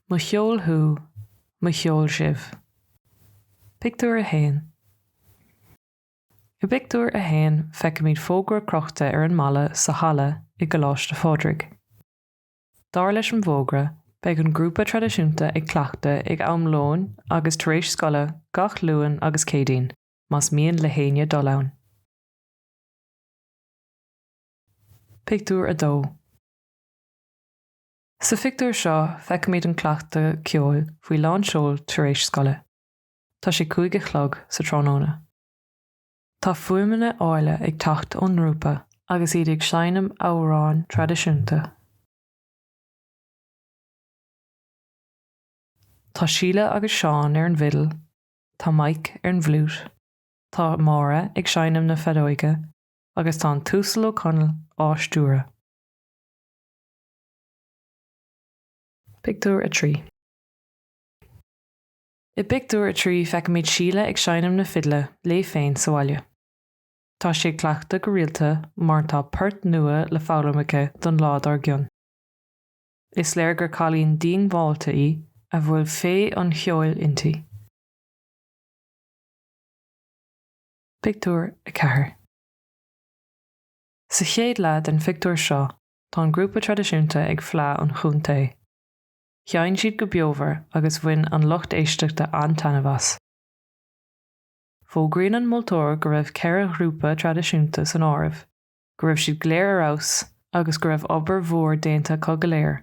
Mo cheol thú, mo cheol sibh. Pictiúr 1 I bpictiúr a haon feicimid fógra crochta ar an mballa sa halla i gColáiste Phádraig. Dar leis an bhfógra, beidh an grúpa traidisiúnta ag cleachtadh ag am lóin agus tar éis scoile gach Luan agus Céadaoin. más mian le héinne dul ann. Pictiúr 2 Sa phictiúr seo feicimid an cleachtadh ceoil faoi lán seoil tar éis scoile. Tá sé cúig a chlog sa tráthnóna. Tá fuaimeanna áille ag teacht ón ngrúpa agus iad ag seinm amhráin traidisiúnta. Tá Síle agus Seán ar an bhfidil tá Mike ar an bhfliút, tá Máire ag seinm na feadóige agus tá an tUasal Ó Conaill á stiúradh. Pictiúr 3 I bpictiúr a trí feicimid Síle ag seinm na fidle léi féin sa bhaile. Tá sí ag cleachtadh go rialta mar tá poirt nua le foghlaim aici don lá dár gcionn. Is léir gur cailín diongbháilte í a bhfuil féith an cheoil inti. Pictiúr 4 Sa chéad leath den phictiúr seo tá an grúpa traidisiúnta ag Fleadh an Chontae. Sheinn siad go beomhar agus bhain an lucht éisteachta an-taitneamh as. Fógraíonn an moltóir go raibh ceithre ghrúpa traidisiúnta san áireamh go raibh siad go léir ar fheabhas agus go raibh obair mhór déanta acu go léir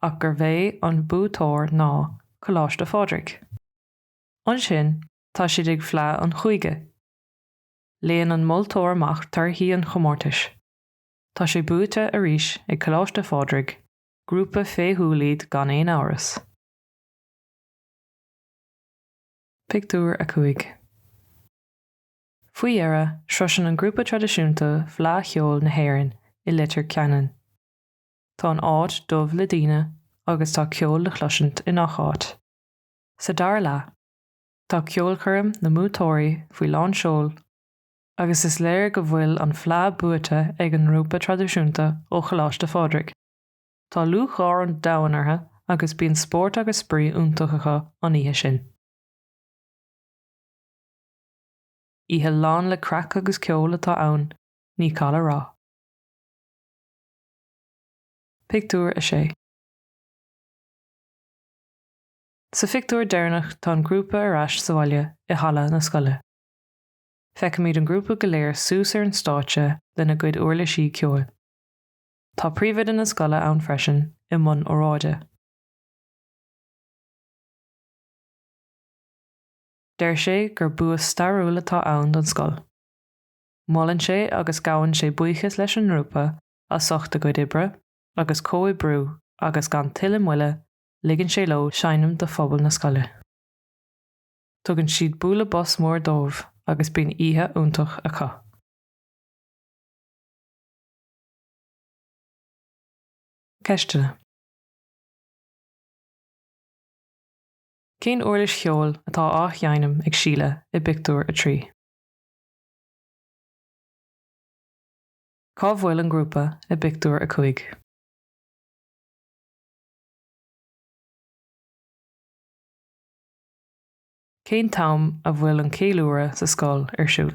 ach gurbh é an buaiteoir ná Coláiste Phádraig. Ansin tá siad ag Fleadh an Chúige. Léann an moltóir amach torthaí an chomórtais. Tá sé buaite arís ag Coláiste Phádraig, grúpa féithiúil iad gan aon amhras. Pictiúr 5 Faoi dheireadh, sroiseann an grúpa traidisiúnta Fleadh Cheoil na hÉireann i Leitir Ceanainn. Tá an áit dubh le daoine agus tá ceol le chloisint i ngach áit. Sa dara leath, tá ceolchoirm na mbuaiteoirí faoi lán seoil agus is léir go bhfuil an Fleadh buaite ag an ngrúpa traidisiúnta ó Choláiste Phádraig. Tá lúcháir an domhain orthu agus bíonn spórt agus spraoi iontach acu an oíche sin. Oíche lán le craic agus ceol atá ann, ní call a rá. Pictiúr 6 Sa phictiúr deireanach tá an grúpa ar ais sa bhaile i halla na scoile. Feicimid an grúpa go léir suas ar an stáitse lena gcuid uirlisí ceoil. Tá príomhoide na scoile ann freisin i mbun óráide. Deir sé gur bua stairiúil atá ann don scoil. Molann sé agus gabhann sé buíochas leis an ngrúpa as ucht a gcuid oibre agus comhoibriú agus gan tuilleadh moille ligeann sé leo seinm do phobal na scoile. Tugann siad bualadh bos mór dóibh agus bíonn oíche iontach acu. Ceisteanna. Cén uirlis cheoil atá á sheinm ag Síle i bpictiúr a trí? Cá bhfuil an grúpa i bpictiúr a cúig? Cén t-am a bhfuil an ceiliúradh sa scoil ar siúl?